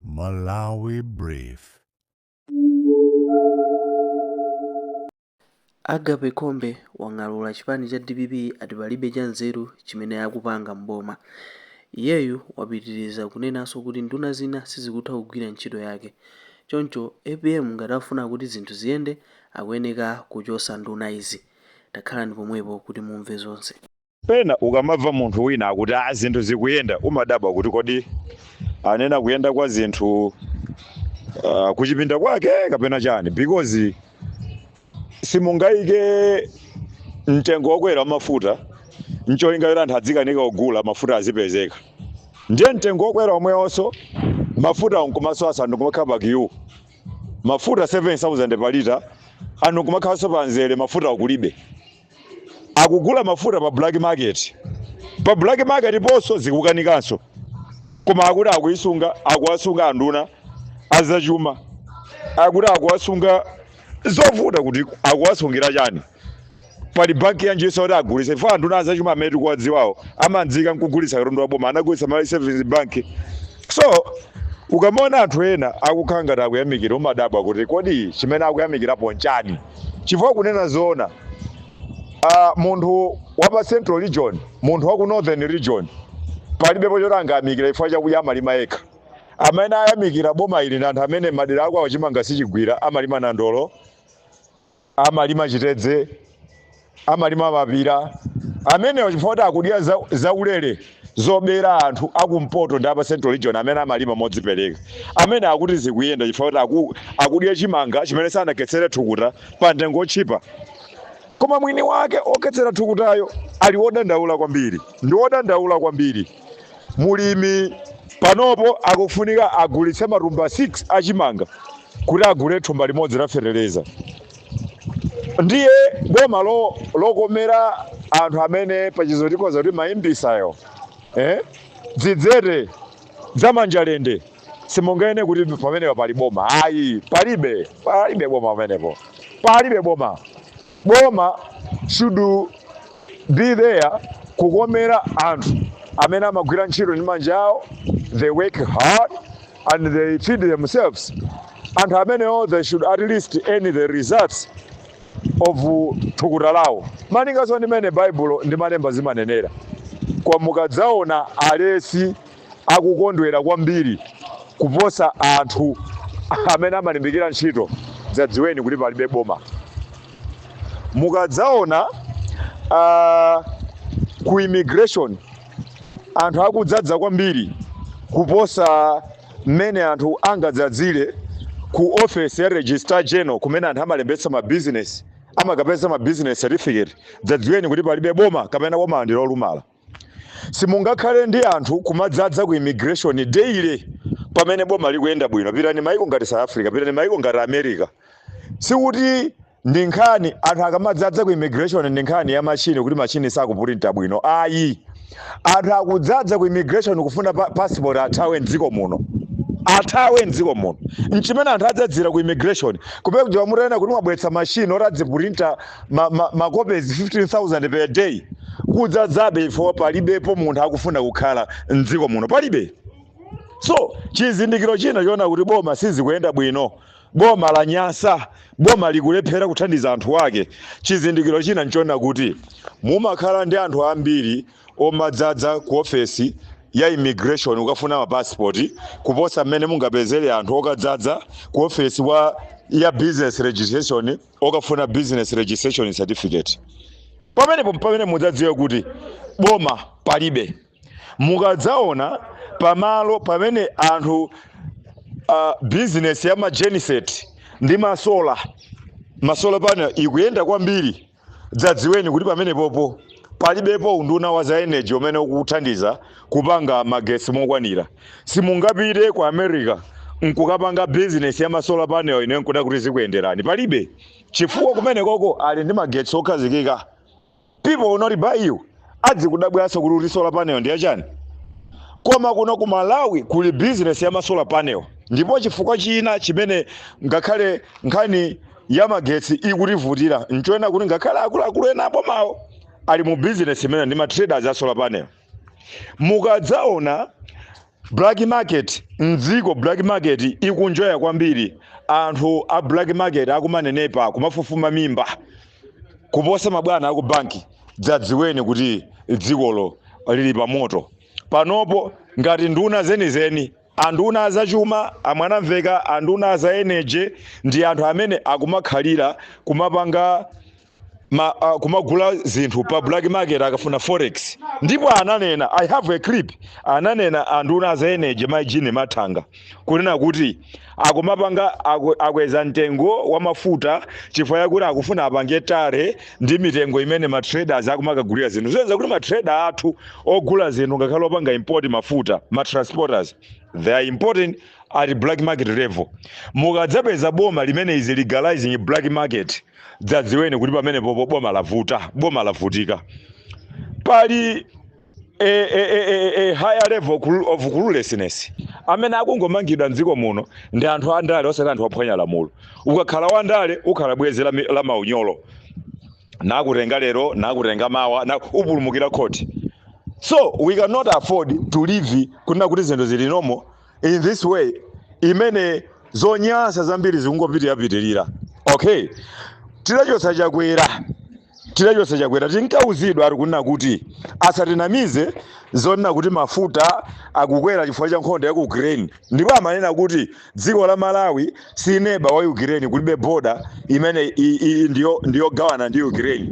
Malawi Brief. Agape Khombe wang'alura chipani cha dpp ati palibe cha nzeru chimene akupanga m'boma. Iyeyu wapitiriza kunenanso kuti nduna zina sizikutha kugwira ntchito yake. Choncho apm ngati akufuna kuti zinthu ziyende akuyeneka kuchotsa nduna izi. Takhalani pomwepo kuti mumve zonse. Pena ukamamva munthu wina akuti a zinthu zikuyenda umadabwa kuti kodi anena kuyenda kwa zinthu uh, kuchipinda kwake kapena chani because simungayike mtengo wokwera wa mafuta ncholinga yoti anthu adzikanika kugula mafuta azipezeka ndiye mtengo wokwera omwewonso mafuta nkumasowa anthu kumakhala pa kiyu mafuta 7000 pa lita anthu kumakhalanso pa nzere mafuta akulibe akugula mafuta pa black market pa black market ponso zikukanikanso koma akuti akuisunga akuwasunga anduna azachuma akuti akuwasunga zovuta kuti akuwasungira chani pali banki yanjinso yoti agulitsa chifukwa anduna azachuma amene tikuwadziwawo amadziwika nkugulitsa katundu wa boma anagulitsa Malawi savings bank So ukamaona anthu ena akukhala ngati akuyamikira umadabwa kuti kodi chimene akuyamikirapo nchani? Chifukwa kunena zoona uh, munthu wa pa central region, munthu wa ku northern region palibepo choti angayamikira chifukwa chakudya amalima yekha. Amene ayamikira boma ili ndi anthu amene madera akwawo chimanga sichigwira amalima nandolo amalima chitedze, amalima mapira amenewo chifukwa kuti akudya za, zaulere zobera anthu akumpoto ndi apa central region amene amalima modzipereka amene akuti zikuyenda chifukwa kuti aku, akudya chimanga chimene sanakhetsere thukuta pa mtengo otchipa koma mwini wake okhetsera thukutayo ali wodandaula kwambiri ndi wodandaula kwambiri mulimi panopo akufunika agulitse matumba 6 a chimanga kuti agule thumba limodzi la feteleza ndiye boma lo, lokomera anthu amene pachizungu tikhoza kuti maimbisayo eh? dzidzete za manjalende simunganene kuti pamenepo pali boma ayi palibe palibe boma pamenepo palibe boma Boma should be there kukomera anthu amene amagwira ntchito ndi manja awo, they work hard and they feed themselves. Anthu amenewo they should at least earn the results of thukuta lawo. Malinganso ndi mene Baibulo ndi malemba zimanenera. Koma mukadzaona alesi akukondwera kwambiri kuposa anthu amene amalimbikira ntchito, dzadziweni kuti palibe boma. Mukadzaona uh, ku immigration anthu akudzadza kwambiri kuposa mmene anthu angadzadzire ku office ya registrar general kumene anthu amalembetsa ma business amakapeza ma business certificate dzadziweni kuti palibe boma kapena boma ndi lolumala simungakhale ndi anthu kumadzadza ku immigration daily pamene boma likuyenda bwino pitani maiko ngati south africa pitani maiko ngati america sikuti ndi nkhani anthu akamadzadza ku immigration ndi nkhani ya machine kuti machine sakupurinta bwino ayi anthu akudzadza ku immigration kufuna pa- passport athawe mdziko muno athawe mdziko muno nchimene anthu adzadzira ku immigration olo kuti mutanena kuti mwabweretsa machine oti adzipurinta ma, ma, makopezi 15000 per day kudzadzabe chifukwa palibepo munthu akufuna kukhala mdziko muno palibe so chizindikiro china choona kuti boma sizikuyenda bwino boma lanyansa boma likulephera kuthandiza anthu ake chizindikiro china nchoona kuti mumakhala ndi anthu ambiri omadzadza ku ofesi ya immigration okafuna mapasipoti kuposa mmene mungapezere anthu okadzadza ku ofesi wa ya business registration okafuna business registration certificate pamenepo pamene mudzadziwe kuti boma palibe mukadzaona pamalo pamene anthu uh, business ya magenset ndi masola masola panel ikuyenda kwambiri dzadziweni kuti pamenepopo palibepo unduna wa za energy amene akuthandiza kupanga magetsi mokwanira. Simungapite ku America nkukapanga business ya ma solar panel nkunena kuti zikuyenderani. Palibe. Chifukwa kumenekoko ali ndi magetsi okhazikika. People will not buy you. Adzikudabwanso kuti kuti solar panel ndi yachani. Koma kuno ku Malawi kuli business ya ma solar panel. Ndipo chifukwa china chimene ngakhale nkhani ya magetsi ikutivutira nchonena kuti ngakhale akuluakulu ena abomawo ali mu business imeneyi ndi ma traders a solar panel. mukadzaona black market mdziko black market ikunjoya kwambiri anthu a black market akumanenepa kumafufuma mimba kuposa mabwana aku banki dzadziweni kuti dzikolo lili pa moto panopo ngati nduna zenizeni anduna azachuma a Mwanamvekha anduna za energy ndi anthu amene akumakhalira kumapanga ma, uh, kumagula zinthu pa black market akafuna forex ndipo ananena i have a clip ananena anduna za energy mai Jean Mathanga kunena kuti akumapanga aku- akweza mtengo wa mafuta chifukwa yakuti akufuna apange tally ndi mitengo imene ma traders akumakagulira zinthu zosonyeza kuti ma trader athu ogula zinthu ngakhale opanga import mafuta ma transporters they are importing at black market level mukadzapeza boma limene is legalizing black market mudzadziwe kuti pamenepopo boma lavuta boma lavutika pali a, a, a, a, a higher level cru- of cluelessness amene akungomangidwa mdziko muno ndi anthu andale osati anthu ophwanya lamulo ukakhala wandale ukhala bwezi la, mi- la maunyolo nakutenga lero nakutenga mawa ukapulumukira khoti so we cannot afford to live kunena kuti zinthu zili normal in this way imene zonyasa zambiri zikungopitirira okay tidachotsa chakwera tidachotsa chakwera tinkauzidwa ati kunena kuti asatinamize zonena kuti mafuta akukwera chifukwa cha nkhondo ya ku ukraine ndipo amanena kuti dziko la malawi si neba wa ukraine kulibe boda imene i- i- ndiyo- ndiyogawana ndi ukraine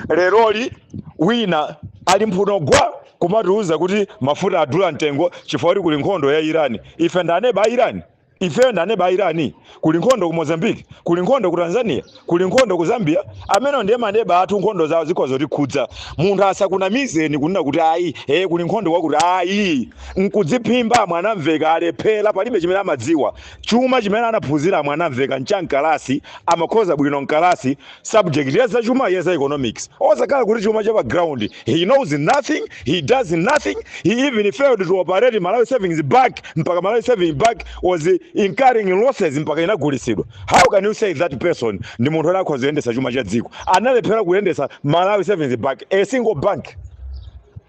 leroli wina ali mphuno gwa kumatiuza kuti mafuta adula mtengo chifukwa kuti kuli nkhondo ya Iran. Ife ndi aneba a Iran? Ifeyo ndi aneba a Iran? Kuli nkhondo ku Mozambique, kuli nkhondo ku Tanzania, kuli nkhondo ku Zambia. Amenewo ndiye maneba athu, nkhondo zawo zikhoza kutikhudza. Munthu asakunamizeni kunena kuti ayi, ee kuli nkhondo kwakuti. Ayi, n'kudziphimba. Mwanamveka alephera, palibe chimene amadziwa. Chuma chimene anaphunzira a Mwanamveka n'cha m'kalasi, amakhoza bwino m'kalasi. subject ya zachuma ya za economics osakhala kuti chuma cha pa ground he knows nothing he does nothing he even failed to operate malawi savings bank mpaka malawi savings bank was incurring losses mpaka inagulitsidwa how can you say that person ndi munthu oti akhoza kuyendetsa chuma cha dziko analephera kuyendetsa malawi savings bank a single bank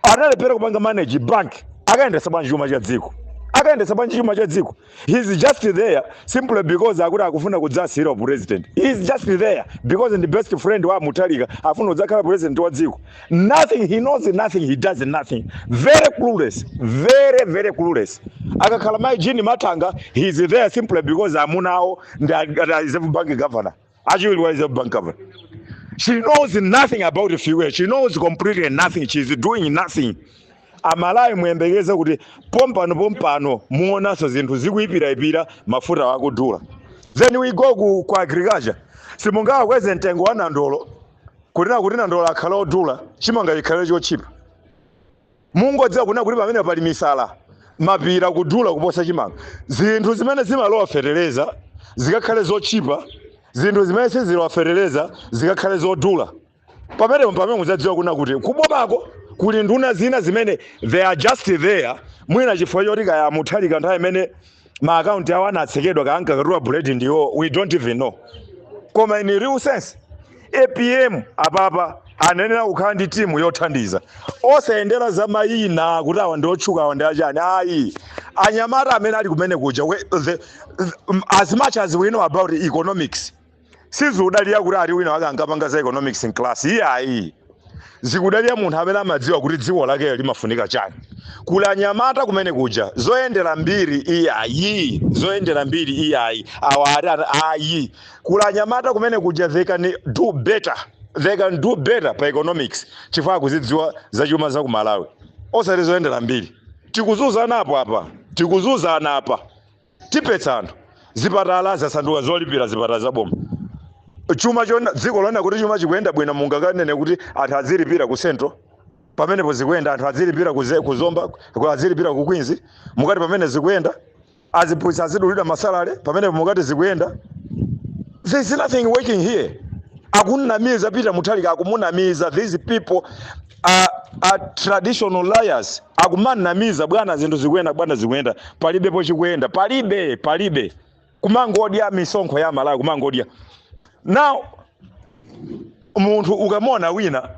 analephera kupanga manage bank akayendetsa bwanji chuma cha dziko akayendetsa bwanji chuma cha dziko He's just there simply because akuti akufuna kudzawasiyira president. He's just there because ndi best friend wa Mutharika afuna kudzakhala president wa dziko. Nothing he knows nothing he does nothing. Very clueless, very very clueless. Akakhala mai Jean Mathanga she's there simply because amunawo ndi Reserve Bank governor. Achiwiri wa Reserve Bank Governor. She knows nothing about the fuel. She knows completely nothing. She is doing nothing. Amalawi muyembekeze kuti pompano pompano muonanso zinthu zikuipiraipira mafuta akudula. Then we go ku, ku agriculture. Simungawakweze mtengo wa nandolo kunena kuti nandolo akhale odula chimanga chikhale chotchipa. Mungodziwa kunena kuti pamenepa pali misala, mapira kudula kuposa chimanga. Zinthu zimene zimalowa fetereza zikakhale zotchipa, zinthu zimene sizilowa fetereza zikakhale zodula. Pamenepo mpamene mudzadziwa kunena kuti kubomako kuli nduna zina zimene they are just there, mwina chifukwa choti kaya a Mutharika nthawi imene ma account awo anatsekedwa ankakatula buledi ndiwo we don't even know koma in real sense APM apapa ayenera kukhala ndi timu yothandiza osayendera za mayina kuti awa ndi otchuka awa ndi achani ayi anyamata amene ali kumene kuja we- the- the- as much as we know about economics sizikudalira kuti ati wina wake ankapanga za economics mclass iyayi zikudalira munthu amene amadziwa kuti dziko lakeyo limafunika chani kuli anyamata kumene kuja zoyendera mbiri iyayi zoyendera mbiri iyayi awa ati ana- ayi kuli anyamata kumene kuja they can do better they can do better pa economics chifukwa akuzidziwa zachuma za ku malawi osati zoyendera mbiri tikuzunzana apo apa tikuzunzana apa Tiphetsa anthu. Zipatala zasanduka zolipira zipatala za boma. Chuma chona dziko lonena kuti chuma chikuyenda bwino mungakanene kuti anthu azilipira ku Central. Pamenepo zikuyenda anthu azilipira ku Ze- ku Zomba, ku- azilipira ku Queens. Mukati pamene zikuyenda aziphunzitsi azidulidwa masalale pamenepo mukati zikuyenda. There is nothing working here. Akunamiza Peter Mutharika akumunamiza these people a, a traditional liars akumunamiza bwana zinthu zikuyenda bwana zikuyenda palibepo chikuyenda palibe palibe kumangodya misonkho ya malawi kumangodya now munthu mukamuona wina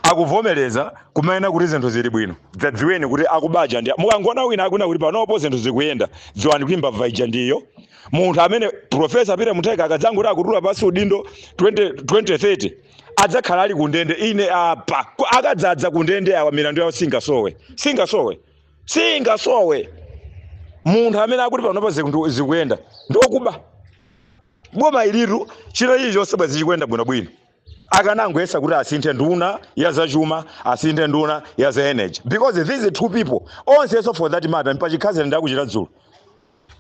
akuvomereza kumanena kuti zinthu zili bwino dzadziweni kuti akubaja ndi mukangoona wina akunena kuti panopo zinthu zikuyenda dziwani kuti mbava ija ndiyo munthu amene profesa peter mutharika akadzangoti akutula pasi udindo 20, 2030 adzakhala ali kundende ine apa Ku- akadzadzaza kundende awa milandu yawo singasowe singasowe singasowe munthu amene akuti panopa ziku- zikuyenda ndi okuba boma ilitu chino ichi chonse bwezi chikuyenda bwinobwino akanangoyesa kuti asinthe nduna ya zachuma asinthe nduna ya za energy because these two people onsenso for that matter mpachikhazi ndakuchita dzulo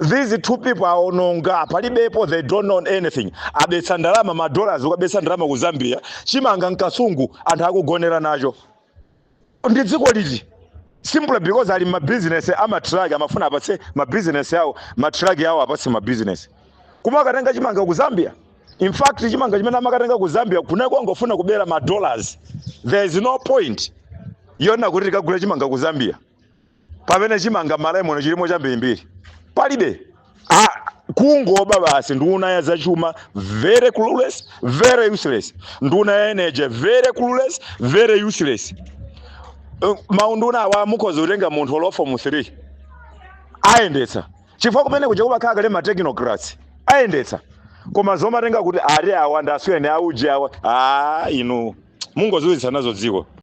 these two people aononga palibepo they don't know anything abetsa ndalama ma dollars kukabetsa ndalama ku zambia chimanga mkasungu anthu akugonera nacho ndi dziko liti simply because ali ndi mabizinesi amatraki amafuna apatse mabizinesi awo matraki awo apatse mabizinesi koma akatenga chimanga ku zambia in fact chimanga chimene amakatenga ku zambia kuja akungofuna kubera ma dollars there is no point yonena kuti tikagule chimanga ku zambia pamene chimanga Malawi muno chilimo chambirimbiri palibe ah, kungoba basi nduna ya zachuma very clueless very useless nduna ya energy very clueless very useless Eh, maunduna awa mukhoza kutenga munthu olo wa fomu 3 ayendetsa chifukwa kumene kuja kumakhala kale ma technocrats ayendetsa koma zomatenga kuti ari awa ndasuyeni auje awa a inu mungozunzitsa nazo dziko